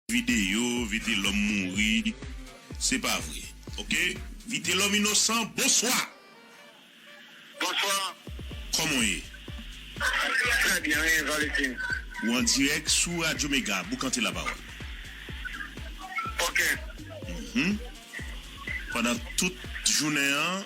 Video vitelom mouri se pa vre ok vitelom inosan bonswa. Bonsoir. Koman w ye? Très bien wi Valentin. Ou an dirèk sou radyo mega boukante la pawòl. Ok. Pandan tout jounen an.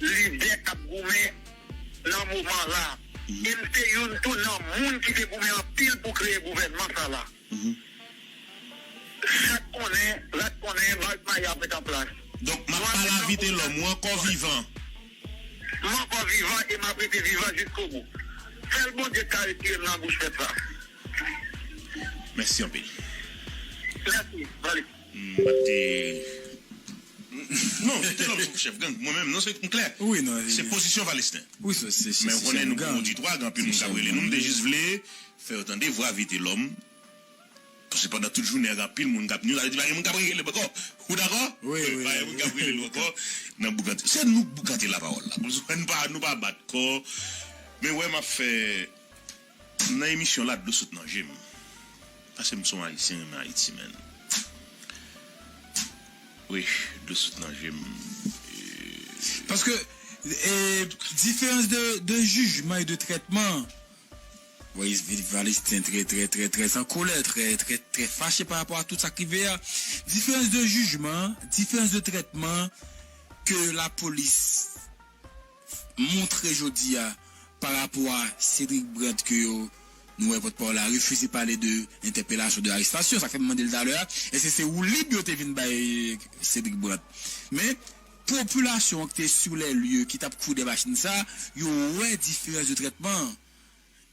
lidè k ap goumen nan moman la e m se youn tou nan moun ki te goumen anpil pou kreye gouvènman sa la. Chat konnen, rat konnen, Marc Maye ap ret an plas. Donk, m ap pala Vitelòm, ou ankò vivan? M ankò vivan e m ap rete vivan jiskobou. Sèl Bondye ki ka retire m nan bouch pèp sa. Mèsi anpil. Mèsi, Malick. M pa t te. Non, kite lòm sou chèf gang. Mwen menm, non se, m klè. Se pozisyon Valesten. Men ou konnen nou gon oditwa, gen anpil moun k ap rele nou. M te jis vle fè yo tande vwa Vitelòm. Paske pandan tout jounen an gen anpil moun k ap ni. Sa vle di pa gen moun k ap rele l ankò. Ou dakò? Pa gen moun k ap rele l ankò nan boukante. Se nou k boukante lapawòl la. Konsa nou pa bat kò. Men wè m ap fè. M nan emisyon la dlo sot nan jem paske m son ayisyen renmen ayiti menn wi dlo sot nan jem eee. Paske diferans de jijman e de trètman voice viv Palestine trè trè trè trè an kolè trè trè trè fache pa rapò a tout sak rive a diferans de jijman diferans de trètman ke lapolis. montre jodi a pa rapò a Cédric Brandt ke yo nou wè pòtpawòl la refize pale de entèpelasyon, de arestasyon, sa k fè m mande l talè a, èske se woulib yo te vin bay Cédric Brandt? Men, popilasyon an ki te sou lè lye, ki t ap koude machin sa, yo wè diferans de trètman an.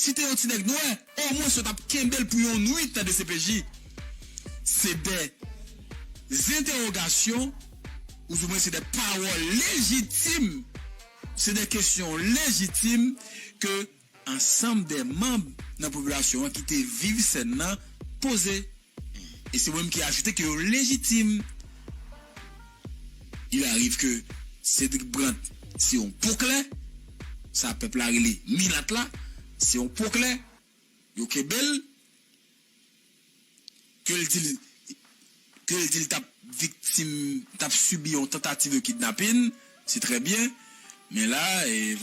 Si te yon ti nèg nwè, omwens yo tap kenbel pou yon nwit nan dcpj. Se de zentewogasyon, ouzoumwen se de pawòl lejitim, se de kesyon lejitim ke ansanm de manb nan popilasyon an ki te viv sèn nan poze. E se mwen menm ki ajoute ke yo lejitim. Il arrive que Cédric Brant se yon po klè, sa pèp la rele milat la, se yon po klè, yo kenbe l, ke l di l, ke l di l t ap viktim, t ap sibi yon tantativ de kidnapin, se trè byen, men la,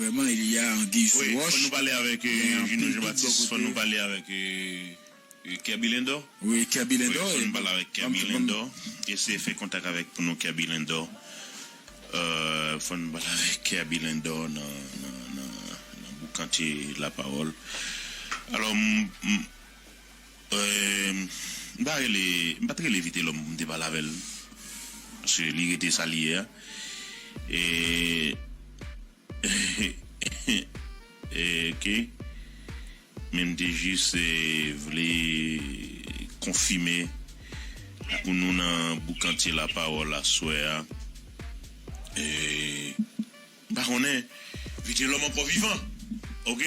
vrèman, il y a anguille sou roche, gen anpil dout bò kote. Wi Kerby Lindor. Wi Kerby Lindor. Wi fon pale avek Kerby Lindor. Eseye fe kontak avek pou nou Kerby Lindor. Uhh fon pale avek Kerby Lindor nan nan boukante la pawol. Alo m m pa rele m pat rele Vitelom pou m te pale avel. Paske li rete sa li ye a. E. Ok men m te jis vle konfime ak nou nan boukantye la pawòl aswè a m pa konnen vitelòm ankò vivan ok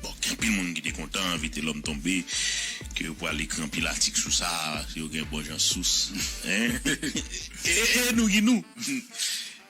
bon gen anpil moun ki te kontan vitelòm tonbe ke yo pral ekri anpil atik sou sa yo gen bon jan sous e nou ki nou.